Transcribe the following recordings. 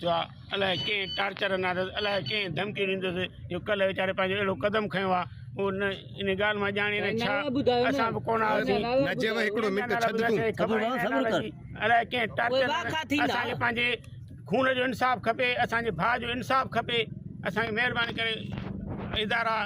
جو الائي ڪنهن ٽارچر ناس الائي ڪنهن ڌمڪي ڏيندس جو ڪلهه ويچاري پنهنجو اهڙو قدم کنيو آ هو نه ان ڳالهه مان ڄاڻي نه ڇا اسان به ڪونه آياسين نجيب هڪڙو منٽ ڇڏ تون صبر ڪر صبر ڪر الائي ڪنهن ٽارچر اسان کي پنهنجي خون جو انصاف کپي اسان جي ڀاء جو انصاف کپي اسان کي مهرباني ڪري ادارا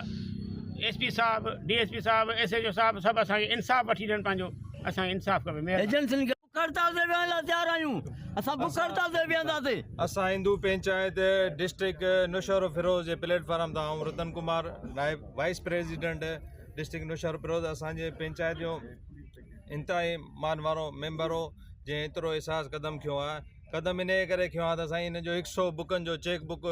ايس پي صاحب ڊي ايس پي صاحب ايس ايچ او صاحب سڀ اسان کي انصاف وٺي ڏين پنهنجو اسان کي انصاف کپي مهرباني بک هڙتال تي ويهڻ لاء تيار آهيون، اسان بک هڙتال تي ويهنداسين. اسان هندو پنچائت ڊسٽرڪٽ نوشهروفيروز جي پليٽ فارم تان آئون رتن ڪمار نائب وائيس پريزيڊنٽ ڊسٽرڪٽ نوشهروفيروز اسان جي پنچائت جو انتهائي مان وارو ميمبر هو جنهن ايترو احساس قدم کنيو آهي قدم انهي ڪري کنيو آهي ته سائين هن جو هڪ سو بڪن جو چيڪ بڪ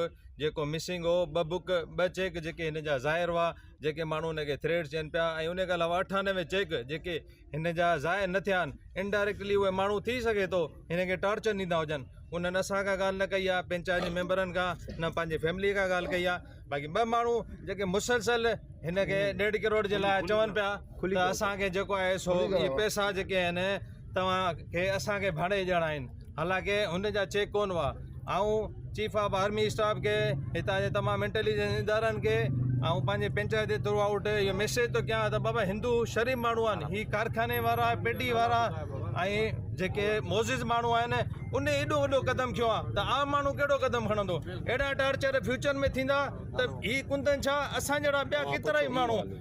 جيڪو مسنگ هو ٻه بڪ ٻه چيڪ جيڪي هن جا ظاهر هئا جيڪي ماڻهو هن کي ٿريڊ چين پيا ۽ انهي کان علاوه اٺانوي چيڪ جيڪي هن جا ضايع نه ٿيا آهن انڊائريڪٽلي اهي ماڻهو ٿي سگهي ٿو هن کي ٽارچر ڏيندا هجن انهن اسان کان ڳالهه نه ڪئي آهي پنچائت جي ميمبرن کان نه پنهنجي فيملي کان ڳالهه ڪئي آهي باقي ٻه ماڻهو جيڪي مسلسل هن کي ڏيڍ ڪروڙ جي لاء چون پيا ته اسان کي جيڪو آهي سو ٻي پئسا جيڪي آهن تمام کي اسان کي ڀاڙي ڏيڻا آهن حالانڪه هن جا چيڪ ڪونه هئا آئون چيف آف آرمي اسٽاف کي هتان جي تمام انٽيليجنس ادارن کي آئون پنهنجي پنچائت جي ٿرو آئوٽ اهو ميسيج ٿو ڪيان ته بابا هندو شريف ماڻهو آهن هي ڪارخاني وارا پيڊي وارا ۽ جيڪي موزز ماڻهو آهن ان ايڏو وڏو قدم کيو آ ته عام ماڻهو ڪهڙو قدم کڻندو اهڙا ٽارچر فيوچر ۾ ٿيندا ته هي ڪندن ڇا اسان جهڙا ٻيا ڪيترائي ماڻهو